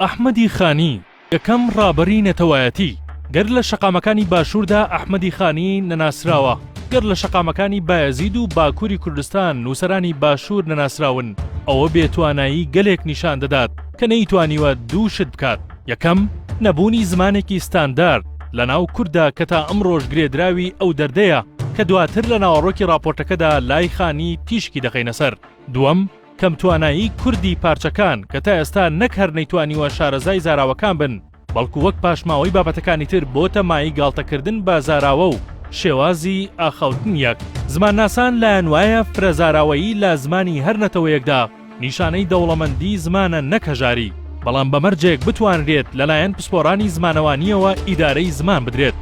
ئەحمەدی خانی، یەکەم ڕابەری نەتەوایەتی، گەر لە شەقامەکانی باشووردا ئەحمەدی خانی نەناسراوە، گەر لە شەقامەکانی بایەزید و باکووری کوردستان نووسەرانی باشوور نەناسراون، ئەوە بێتوانایی گەلێک نیشان دەدات کە نەیتوانیوە دوو شت بکات، یەکەم، نەبوونی زمانێکی ستاندارد لەناو کورددا کە تا ئەمڕۆش گرێدراوی ئەو دەردەیە کە دواتر لە ناوەڕۆکی ڕاپۆرتەکەدا لای خانی تیشکی دەخەینە سەر، دووەم، کەمتوانایی کوردی پارچەکان کە تا ئێستا نەک هەر نەیتوانیوە شارەزای زاراوەکان بن، بەڵکو وەک پاشماوەی بابەتەکانی تر بۆتە مایەی گاڵتەکردن بە زاراوە و شێوازی ئاخاوتنی یەک. زمانناسان لایان وایە فرە زاراوەیی لە زمانی هەر نەتەوەیەکدا نیشانەی دەوڵەمەندی زمانە نەک هەژاری، بەڵام بە مەرجێک بتوانرێت لەلایەن پسپۆرانی زمانەوانییەوە ئیدارەی زمان بدرێت.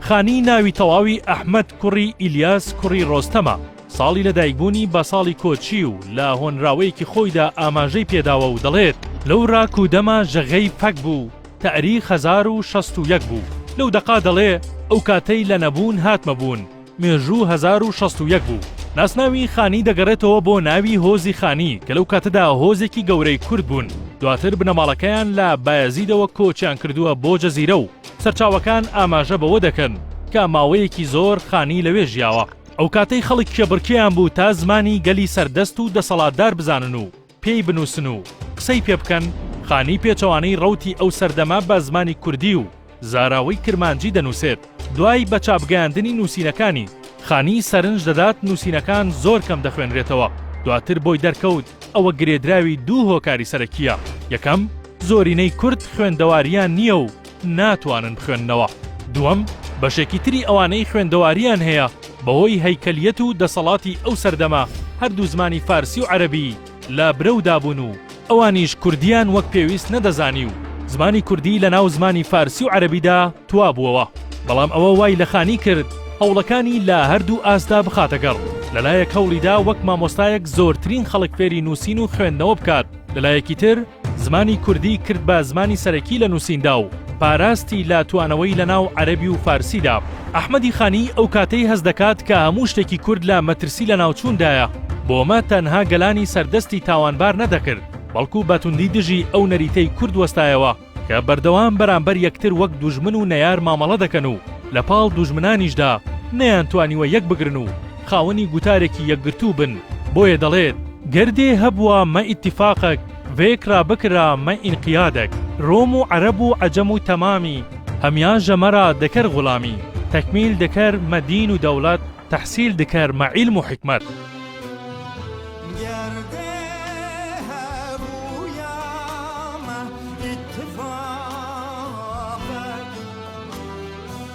خانی ناوی تەواوی ئەحمەد کوڕی ئیلیاس کوڕی ڕۆستەمە. ساڵی لەدایکبوونی بە ساڵی کۆچی و لە هۆنراوەیەکی خۆیدا ئاماژەی پێداوە و دەڵێت، لەو ڕاک و دەمە ژەغەی پەک بوو، تەئریخ هەزار و شەست و یەک بوو. لەو دەقا دەڵێ، ئەو کاتەی لە نەبوون هاتمە بوون، مێژوو هەزار و شەست و یەک بوو. ناسناوی خانی دەگەڕێتەوە بۆ ناوی هۆزی خانی کە لەو کاتەدا هۆزێکی گەورەی کورد بوون، دواتر بنەماڵەکەیان لە بایەزیدەوە کۆچیان کردووە بۆ جەزیرە و سەرچاوەکان ئاماژە بەوە دەکەن کە ماوەیەکی زۆر خانی لەوێ ژیاوە. ئەوکاتەی خەڵک کێبڕکێیان بوو تا زمانی گەلی سەردەست و دەسەڵاتدار بزانن و پێی بنووسن و قسەی پێ بکەن، خانی پێچەوانەی ڕەوتی ئەو سەردەمە بە زمانی کوردی و زاراوەی کرمانجی دەنووسێت، دوای بە چاپگەیاندنی نووسینەکانی خانی سەرنج دەدات نووسینەکان زۆر کەم دەخوێنرێتەوە، دواتر بۆی دەرکەوت ئەوە گرێدراوی دوو هۆکاری سەرەکییە، یەکەم، زۆرینەی کورد خوێندەوارییان نییە و ناتوانن بخوێننەوە، دووەم بەشێکی تری ئەوانەی خوێندەوارییان هەیە بەهۆی هەیکەلیەت و دەسەڵاتی ئەو سەردەمە هەردوو زمانی فارسی و عەرەبی لە برەو دابوون و ئەوانیش کوردییان وەک پێویست نەدەزانی و زمانی کوردی لەناو زمانی فارسی و عەرەبیدا توابووەوە بەڵام ئەوە وای لە خانی کرد هەوڵەکانی لە هەردوو ئاستدا بخاتە گەڕ لەلایەک هەوڵیدا وەک مامۆستایەک زۆرترین خەڵک فێری نووسین و خوێندنەوە بکات لەلایەکی تر زمانی کوردی کرد بە زمانی سەرەکی لە نووسیندا و پاراستی لە توانەوەی لە ناو عەرەبی و فارسیدا. ئەحمەدی خانی ئەو کاتەی هەست دەکات کە هەموو شتێکی کورد لە مەترسی لەناوچووندایە، بۆ مە تەنها گەلانی سەردەستی تاوانبار نەدەکرد، بەڵکو بە توندی دژی ئەو نەریتەی کورد وەستایەوە کە بەردەوام بەرامبەر یەکتر وەک دوژمن و نەیار مامەڵە دەکەن و لە پاڵ دوژمنانیشدا نەیانتوانیوە یەکبگرن و خاوەنی گوتارێکی یەکگرتوو بن، بۆیە دەڵێت، گەر دێ هەبوا مە ئیتیفاقەک، ڤێک را بکرا مە ئینقیادەک، رۆم و عەرەب و عەجەم و تەمامی، هەمیا ژە مە را دەکەر غولامی، تەکمیل دکەر مە دین و دەولەت، تەحسیل دکەر مە عیلم و حیکمەت.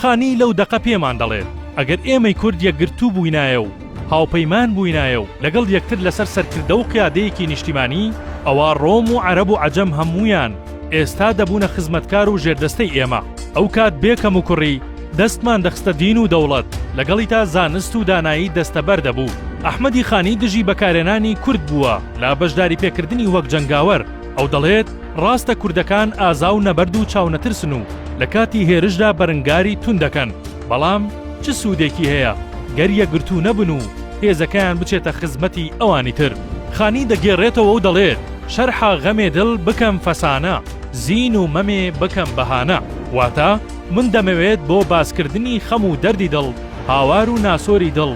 خانی لەو دەقە پێمان دەڵێت، ئەگەر ئێمەی کورد یەکگرتوو بووینایە و هاوپەیمان بووینایە و لەگەڵ یەکتر لەسەر سەرکردە و قیادەیەکی نیشتیمانی، ئەوا ڕۆم و عەرەب و عەجەم هەموویان ئێستا دەبوونە خزمەتکار و ژێردەستەی ئێمە. ئەو کات بێ کەموکوڕی دەستمان دەخستە دین و دەوڵەت، لەگەڵیدا زانست و دانایی دەستەبەر دەبوو. ئەحمەدی خانی دژی بەکارهێنانی کورد بووە لە بەشداریپێکردنی وەک جەنگاوەر، ئەو دەڵێت، ڕاستە کوردەکان ئازا و نەبەرد و چاونەترسن و لە کاتی هێرشدا بەرنگاری توند دەکەن، بەڵام چ سوودێکی هەیە گەر یەکگرتوو نەبن و هێزەکەیان بچێتە خزمەتی ئەوانی تر؟ خانی دەگێڕێتەوە و دەڵێت، شەرحە غەمێ دڵ بکەم فەسانە، زین و مەمێ بکەم بەهانە، واتە، من دەمەوێت بۆ باسکردنی خەم و دەردی دڵ، هاوار و ناسۆری دڵ،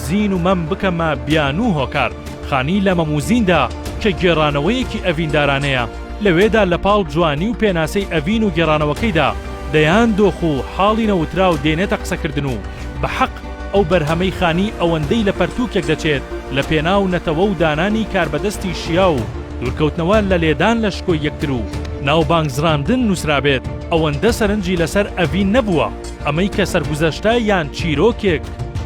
زین و مەم بکەمە بیانوو و هۆکار. خانی لە مەموزیندا کە گێڕانەوەیەکی ئەڤیندارانەیە، لەوێدا لە پاڵ جوانی و پێناسەی ئەڤین و گێڕانەوەکەیدا، دەیان دۆخ و حاڵی نەوتراو دێنێتە قسەکردن و بە حەق ئەو بەرهەمەی خانی ئەوەندەی لە پەرتووکێک دەچێت لە پێناو نەتەوە و دانانی کاربەدەستی شیاو و دوورکەوتنەوە لە لێدان لە شکۆی یەکتر و ناوبانگزڕاندن نووسرابێت، ئەوەندە سەرنجی لەسەر ئەڤین نەبووە. ئەمەی کە سەرگوزەشتە یان چیرۆکێک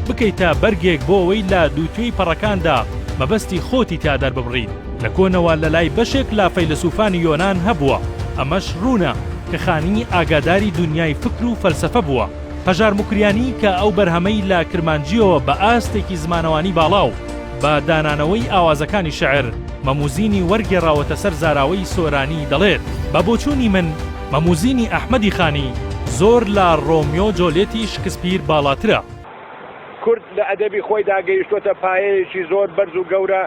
بکەیتە بەرگێک بۆ ئەوەی لە دووتوێی پەڕەکاندا مەبەستی خۆتی تیا دەرببڕیت، لە کۆنەوە لە لای بەشێک لە فەیلەسووفانی یۆنان هەبووە، ئەمەش ڕوونە کە خانی ئاگاداری دونیای فکر و فەلسەفە بووە. هەژار موکریانی کە ئەو بەرهەمەی لە کرمانجییەوە بە ئاستێکی زمانەوانی باڵا و بە دانانەوەی ئاوازەکانی شێعر مەموزینی وەرگێڕاوەتە سەر زاراوەی سۆرانی دەڵێت، بە بۆچوونی من، مەموزینی ئەحمەدی خانی زۆر لە ڕۆمیۆ جۆلێتی شکسپیر باڵاترە. کورد لە ئەدەبی خۆیدا گەیشتۆتە پایەیەکی زۆر بەرز و گەورە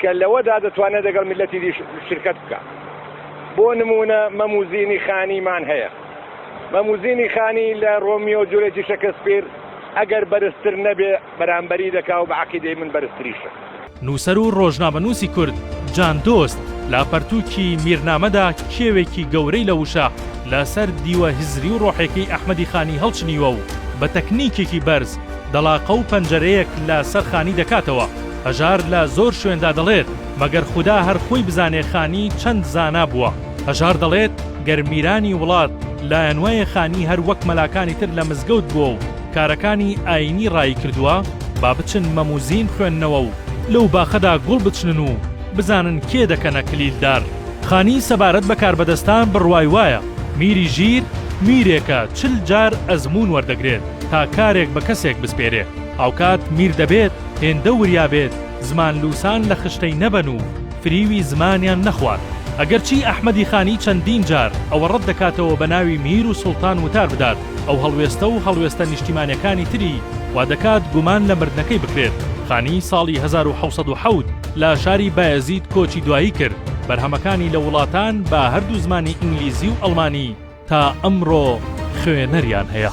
کە لەوەدا دەتوانێت دەگەڵ میللەتی دی شرکەت بکات. بۆ نموونە مەموزینی خانی مان هەیە. مەموزینی خانی لە ڕۆمیۆ جۆلێتی شکسپیر ئەگەر بەرزتر نەبێ، بەرامبەری دەکا و بە عەقیدەی من بەرزتریشە. نووسەر و ڕۆژنامەنووسی کورد جان دۆست لە پەرتووکی میرنامەدا کێوێکی گەورەی لە وشە لە سەر دیوە هزری و ڕۆحێکەی ئەحمەدی خانی هەڵچنیوە و بە تەکنیکێکی بەرز دەڵاقە و پەنجەرەیەک لە سەر خانی دەکاتەوە. هەژار لە زۆر شوێندا دەڵێت، مەگەر خودا هەر خۆی بزانێ خانی چەند زانا بووە. هەژار دەڵێت، گەر میرانی وڵات لایەنوایێ خانی هەر وەک مەلاکانی تر لە مزگەوت بووە و، کارەکانی ئایینی ڕایی کردووە، با بچن مەم و زین خوێننەوە و لەو باخەدا گوڵ بچنن و بزانن کێ دەکەنە کلیلدار. خانی سەبارەت بە کاربەدەستان بڕوای وایە، میری ژیر میرێکە چل جار ئەزموون وەردەگرێت تا کارێک بە کەسێک بسپێرێ، هاوکات میر دەبێت هێندە وریا بێت زمانلووسان لە خشتەی نەبەن و فریوی زمانیان نەخوات. ئەگەرچی ئەحمەدی خانی چەندین جار ئەوە ڕەت دەکاتەوە بە ناوی میر و سوڵتان وتار بدات، ئەو هەڵوێستە و هەڵوێستە نیشتیمانیەکانی تری وا دەکات گومان لە مردنەکەی بکرێت. خانی ساڵی هەزار و حەوت سەد و حەوت لە شاری بایەزید کۆچی دوایی کرد، بەرهەمەکانی لە وڵاتان بە هەردوو زمانی ئینگلیزی و ئەڵمانی تا ئەمڕۆ خوێنەریان هەیە.